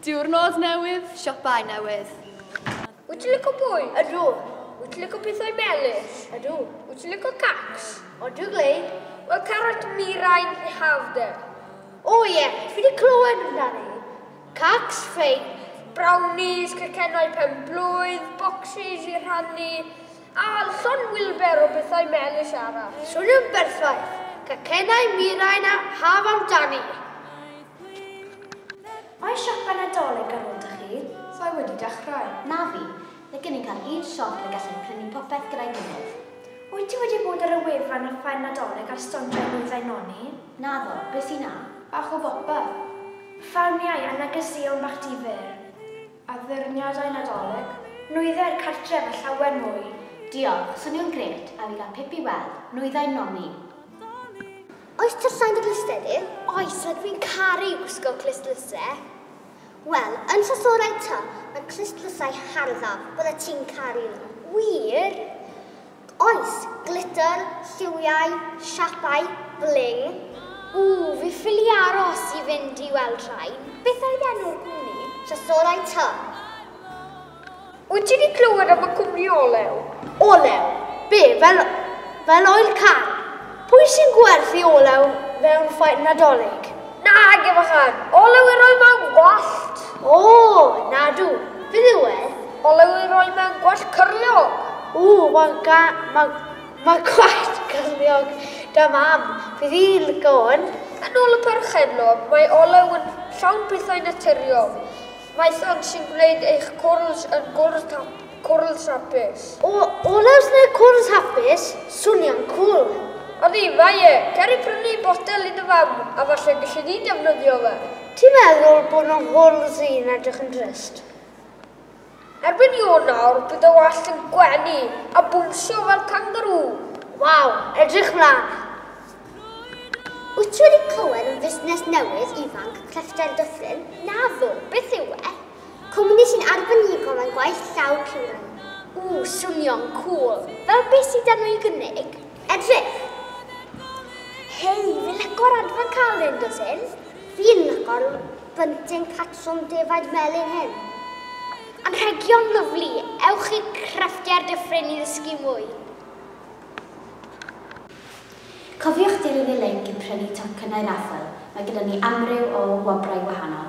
Diwrnod newydd, siopau newydd. Wyt ti'n licio bwyd? Ydw. Wyt ti'n licio pethau melys? Ydw. Wyt ti'n licio cacs? Odw, Glei. Wel, carot mirain hafder. O ie, fi wedi clywed amdani. Cacs, ffein. Brownies, cacennau pen-blwydd, bocsys i rhannu. A alson Wilber o bethau melys arall. Swnio'n berffaith! Cacennau, mirain a haf amdani! Mae siopa Nadolig ar ôl 'da chi? Sa i wedi dechrau. Na fi. Mae gennym cael un siop ble gallwn prynu popeth gyda'i gilydd. Wyt ti wedi bod ar y wefan a ffair Nadolig ar stondio'r nwyddau noni? Naddo. Be sy 'na? Bach o bopeth. Ffalmiau a negeseuon bach difyr. Addurniadau Nadolig, nwyddau'r cartref a llawer mwy! Diolch, swnio'n grêt, a fi gael pip i weld nwyddau Nonni! Oes tyllau yn dy glustled di? Oes, a dwi'n caru gwisgo clustlyse! Wel, yn Sasorau ta, mae clustlyse'n hardd dda, byddet ti'n caru nhw. Wir! Oes, glitr, lliwiau, siapau, bling. Ww, fi ffili aros i fynd i weld rhain. Beth oedd enw'r cwmni? Trysorau Tŷ. Wyt ti 'di clywed am y cwmni olew? Olew? Be, fel, fel oil car? Pwy sy'n gwerthu olew mewn ffair Nadolig? Nag yw fachgen! Olew i roi mewn gwallt! O! Nadw! Beth yw e? Olew i roi mewn gwallt cyrliog! O! Mae ga- mae, mae gwallt cyrliog da Mam! Fydd hi'n lico hwn! Yn ôl y perchennog, mae olew yn llawn pethau naturiol. Mae llond sy'n gwneud eich cwrls yn gwrls cwrls hapus. O, orals neu cwrls hapus, swnio'n cwl! Ydy, mae e! Cer i brynu botel i dy fam, a falle galli di defnyddio fe. Ti'n meddwl bod fy nghwrls i'n edrych yn drist? Erbyn Ionawr bydd y wallt yn gwenu a bownsio fel cangarŵ! Waw, edrych mlan! Wyt ti wedi clywed am fusnes newydd ifanc crefftau'r Dyffryn? Naddo, beth yw e? Cwmni sy'n arbenigo mewn gwaith llaw piwran. Ww, swnio'n cŵl! Fel beth sydd arno i gynnig? Edrych! Hei, fi'n lico'r adran cael hyn, dwyt ti? Fi'n lico'r bunting patrwm defaid melyn hyn. Anrhegion lyfli, ewch i Crefftau'r Dyffryn i ddysgu mwy! Cofiwch dilyn y linc i prynu tocynnau raffl, mae gyda ni amryw o wobrau gwahanol.